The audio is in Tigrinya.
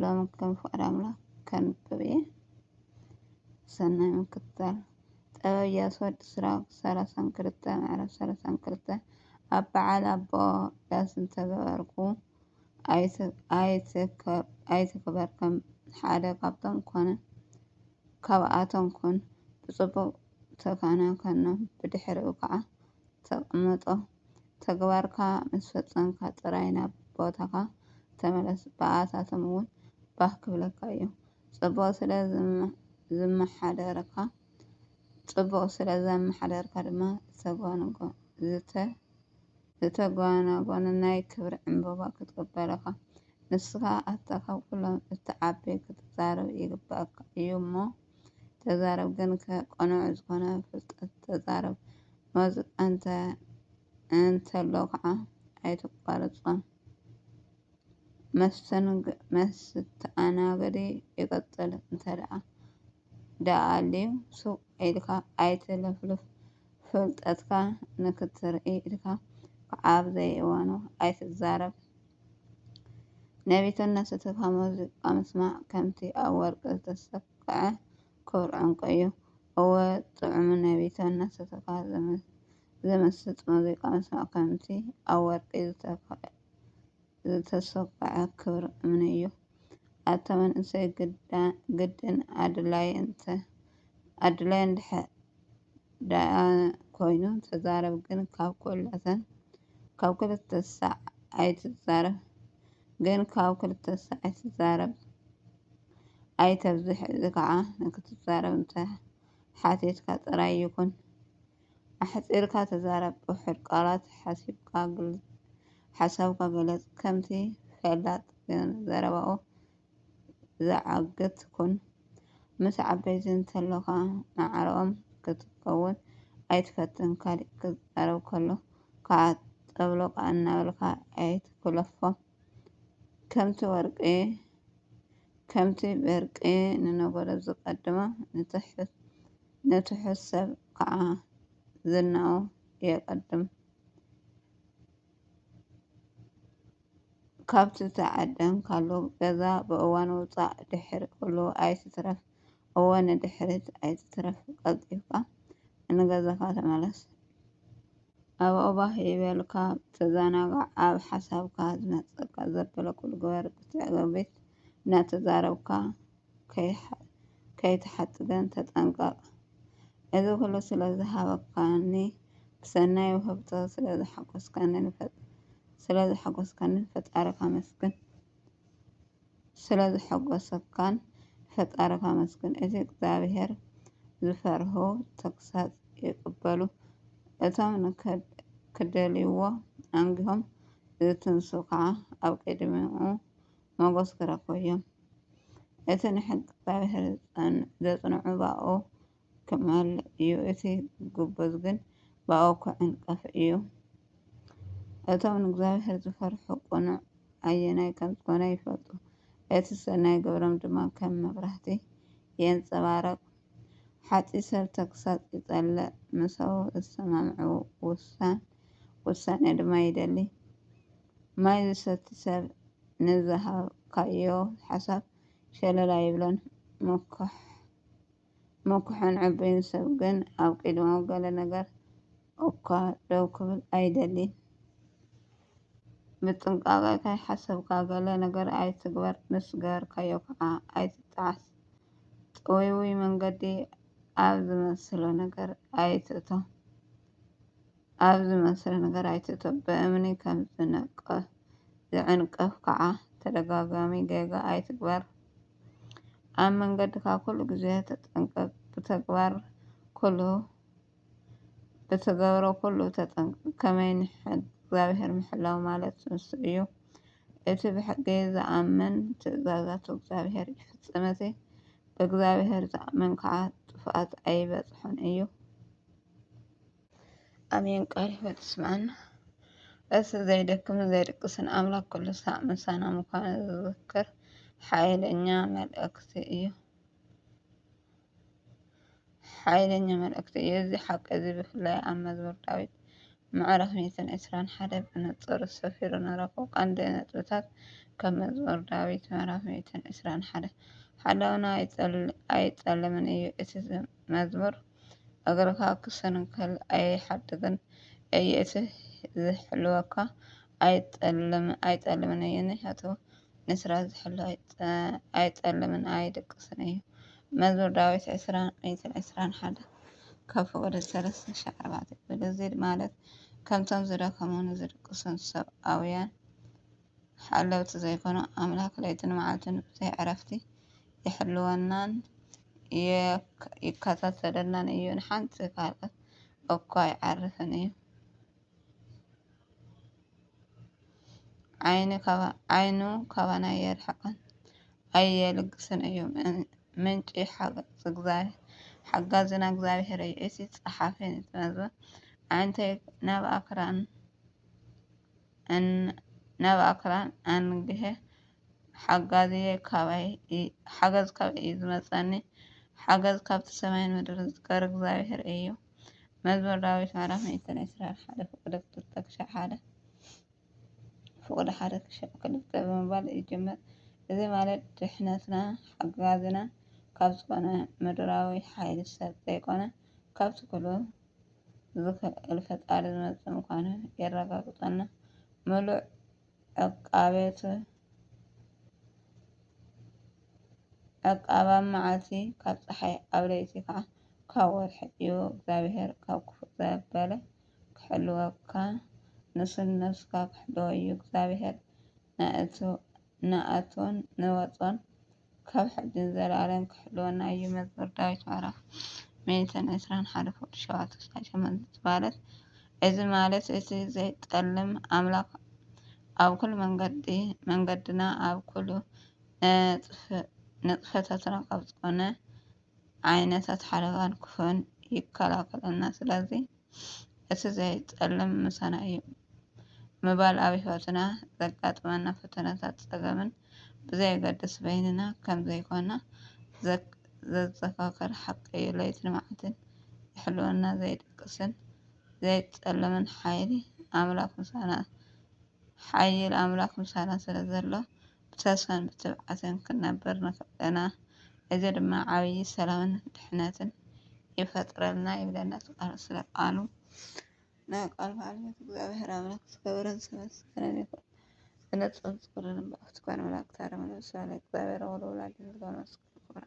ሎሚ ከም ፍቃድ ኣምላኽ ከንብብ እየ። ሰናይ ምክትታል ጥበብ ኢያሱ ወዲ ስራቅ ሰላሳን ክልተ ምዕራፍ ሰላሳን ክልተ ኣብ በዓል ኣቦ ዳስ እንተገበርኩ ኣይትክበር ከም ሓደ ካብቶም ኮነ ካብኣቶም ኩን ብጽቡቅ ተካናከኖም ብድሕሪኡ ከዓ ተቐመጦ። ተግባርካ ምስ ፈጸምካ ጥራይ ናብ ቦታኻ ተመለስ፣ ብኣታቶም እውን ባህ ክብለካ እዩ። ጽቡቕ ስለ ዝመሓደርካ ጽቡቕ ስለ ዘመሓደርካ ድማ ዝተጓናጎነ ናይ ክብሪ ዕምባባ ክትቅበል'ኻ። ንስኻ ኣታ ካብ ኩሎም እትዓቢ ክትዛረብ ይግበኣካ እዩ እሞ። ተዛረብ ግን ከ ቅኑዕ ዝኾነ ፍልጠት ተዛረብ መውዝእ እንተ እንተሎ ከዓ ኣይተቋርጾ መስተንግ መስተኣናገዲ ይቀጽል እንተደኣ ደኣልዩ ሱቅ ኢልካ ኣይትለፍልፍ ፍልጠትካ ንክትርኢ ኢልካ ከዓ ኣብዘይእዋኑ ኣይትዛረብ። ነቢትነት ዝትፋ ሙዚቃ ምስማዕ ከምቲ ኣብ ወርቂ ዝተሰክዐ ክቡር ዕንቁ እዩ። እወ ጥዑም ነቢትነት ዝትፋ ዝምስጥ ሙዚቃ ምስማዕ ከምቲ ኣብ ወርቂ ዝተሰክዐ ክቡር እምኒ እዩ። ኣታ መንእሰይ ግድን ኣድላይ እንተ ኣድላይ እንድሕር ደኣ ኮይኑ ተዛረብ ግን ካብ ኩላተን ካብ ክልተ ሳዕ ኣይትዛረብ ግን ካብ ክልተ ሳዕ ኣይትዛረብ ኣይተብዝሕ እዚ ከዓ ንክትዛረብ እንተ ሓቲትካ ጥራይ ይኩን ኣሕጺርካ ተዛረብ ብውሑድ ቃላት ሓሲብካ ግልጽ ሓሳብካ ግለጽ ከምቲ ፈላጥ ግን ዘረባኡ ዝዓግት ኩን። ምስ ዓበይቲ እንተሎኻ ማዕረኦም ክትከውን ኣይትፈትን ካሊእ ክዛረብ ከሎ ካኣ ጠብሎቅ ኣናበልካ ኣይትኩለፎ ከምቲ ወርቂ ከምቲ በርቂ ንነጎዶ ዝቀድሞ ንትሑት ሰብ ካኣ ዝናኡ የቀድም። ካብቲ ዝተዓደምካሉ ገዛ ብእዋን ምውጻእ ድሕር ክብሉ ኣይትትረፍ እወ ንድሕሪት ኣይትትረፍ ቀልጢፍካ ንገዛካ ተመለስ ኣብኡ ባህ ይበልካ ተዘናጋዕ ኣብ ሓሳብካ ዝመጸካ ዘበለ ኩሉ ግበር ብትዕግቢት እናተዛረብካ ከይትሓጽበን ተጠንቀቕ። እዚ ዅሉ ስለ ዝሃብካኒ፣ ብሰናይ ውህብቶ ስለ ዘሐጐስካኒ ንፈጣሪኻ ኣመስግን። ስለ ዘሐጐሰካ ንፈጣሪኻ ኣመስግን። እቲ እግዚኣብሄር ዚፈርሁ ተግሳጽ ይቕበሉ፣ እቶም ንኪደልይዎ ኣንጊሆም ዚትንስኡ ኸኣ ኣብ ቅድሚኡ ሞገስ ክረክቡ እዮም። እቲ ንሕጊ እግዚኣብሔር ዘጽንዑ ባኡ ክማል እዩ፣ እቲ ግቡዝ ግን ባኡ ክዕንቀፍ እዩ። እቶም ንእግዚኣብሔር ዝፈርሑ ቅኑዕ ኣየናይ ከም ዝኾነ ይፈልጡ፣ እቲ ሰናይ ግብሮም ድማ ከም መብራህቲ የንጸባረቅ። ሓጢ ሰብ ተግሳጽ ይጸልእ፣ ምሰኡ ዝሰማምዑ ውሳን ውሳኔ ድማ ይደሊ። ማይ ዝሰቲ ሰብ ንዝሃብካዮ ሓሳብ ሸለል ኣይብሎን። ምኩሕን ዕቡይን ሰብ ግን ኣብ ቂድማኡ ገለ ነገር እኳ ደው ክብል ኣይደሊን። ብጥንቃቐ ከይሓሰብካ ገለ ነገር ኣይትግበር፣ ምስ ገበርካዮ ከዓ ኣይትጠዓስ። ጥውይውይ መንገዲ ኣብ ዝመስሎ ነገር ኣይትእቶ። ኣብ ዝመስል ነገር ኣይትእቶ፣ ብእምኒ ከም ዝንቀፍ ዝዕንቀፍ ከዓ ተደጋጋሚ ጌጋ ኣይትግበር። ኣብ መንገድካ ኩሉ ግዜ ተጠንቀቅ፣ ብተግባር ኩሉ ብትገብሮ ኩሉ ተጠንቀቅ፣ ከመይ ንሕጊ እግዚኣብሔር ምሕላው ማለት ንሱ እዩ። እቲ ብሕጊ ዝኣምን ትእዛዛቱ እግዚኣብሔር ይፍጽም፣ እቲ ብእግዚኣብሔር ዝኣምን ከዓ ጥፍኣት ኣይበጽሖን እዩ። ኣሜን ቃል ህይወት ስምዐና። እሱ ዘይደክም ዘይድቅስን ኣምላክ ኩሉ ሳዕ ምሳና ምዃኑ ዝዝክር ሓይለኛ መልእክቲ እዩ። ሓይለኛ መልእክቲ እዩ። እዚ ሓቂ እዚ ብፍላይ ኣብ መዝሙር ዳዊት ምዕራፍ ሚእትን ዕስራን ሓደ ብንጹር ሰፊሩ ንረኽቦ። ቀንዲ ነጥብታት ካብ መዝሙር ዳዊት ምዕራፍ ሚእትን ዕስራን ሓደ ሓላውና ኣይጸልምን እዩ። እቲ መዝሙር እግርኻ ክሰንከል ኣይሓድግን እየ እቲ ዝሕልወካ ኣይጠልምን እዩ ንሕቱ ንስራ ዝሕሉ ኣይጠልምን ኣይድቅስን እዩ መዝሙር ዳዊት ዕስራን ሚእትን ዕስራን ሓደ ካብ ፍቕዲ ሰለስተ ሽሕ ኣርባዕተ ብልዚድ ማለት ከምቶም ዝደኸሙን ዝድቅሱን ሰብኣውያን ሓለውቲ ዘይኮኑ ኣምላክ ለይትን መዓልትን ብዘይ ዕረፍቲ ይሕልወናን ይከታተለናን እዩ ንሓንቲ ካልኣት እኳ ኣይዓርፍን እዩ ዓይኑ ካባና ኣየርሕቅን ኣየልግስን እዩ ምንጪ ሓጋዝና እግዚኣብሄር እዩ እቲ ጸሓፊ ንዝመዝበ ኣዒንተይ ናብ ኣክራን እን ነብ ኣክራን ኣንግሀ ሓጋዝየ ካባይ ሓገዝ ካባይ እዩ ዝመጸኒ ሓገዝ ካብቲ ሰማይን ምድርን ዝገር እግዚኣብሔር እዩ መዝሙር ዳዊት ምዕራፍ ሚእትን ዕስራን ሓደ ፍቅደ ክልተ ክሻዕ ሓደ ፍቅደ ሓደ ክሻዕ ክልተ ብምባል ይጅምር እዚ ማለት ድሕነትና ሓጋዝና ካብ ዝኾነ ምድራዊ ሓይሊ ሰብ ዘይኮነ ካብቲ ኩሉ ዝክእል ፈጣሪ ዝመፅእ ምኳኑ የረጋግፀልና ሙሉእ ዕቃቤቱ ዕቃበ ኣብ መዓልቲ ካብ ፀሓይ ኣብ ለይቲ ከዓ ካብ ወርሒ እዩ እግዚኣብሔር ካብ ክፉእ ዘበለ ክሕልወካ ንሱ ንነብስካ ክሕልዎ እዩ እግዚኣብሔር ንኣትዎን ንወፅኦን ካብ ሕጂ ንዘለኣለም ክሕልወና እዩ መዝሙር ዳዊት ምዕራፍ ሚእትን ዕስራን ሓደ ፍቕዲ ሸውዓተ ክሳብ ሸሞንተ ዝበሃለት እዚ ማለት እቲ ዘይጠልም ኣምላኽ ኣብ ኩሉ መንገዲ መንገድና ኣብ ኩሉ ንጥፈታትና ካብ ዝኾነ ዓይነታት ሓደጋን ክፉእን ይከላኸለልና። ስለዚ እቲ ዘይጸልም ምሳና እዩ ምባል ኣብ ህይወትና ዘጋጥመና ፈተነታት ጸገምን ብዘየገድስ በይንና ከም ዘይኮና ዘዘካክር ሓቂ እዩ። ለይትን መዓልትን ይሕልወና ዘይድቅስን ዘይጸልምን ሓይሊ ኣምላኽ ምሳና ሓይል ኣምላኽ ምሳና ስለ ዘሎ ብተስፋን ብትብዓትን ክንነብር ንኽእል ኢና፣ እዚ ድማ ዓብዪ ሰላምን ድሕነትን ይፈጥረልና ይብለና እቲ ቃሉ ስለ ቃሉ ናይ ቃል ባለቤት እግዚኣብሔር ኣምላክ ዝከበረን ዝተመስገነን ይኹን። ዝነጽን ዝኩርን እምበኣር ትኳን ኣምላክ ታረመ ነብስና ንእግዚኣብሔር ወለወላዲቱ ዝገብረ መስቀሉ ክብራ።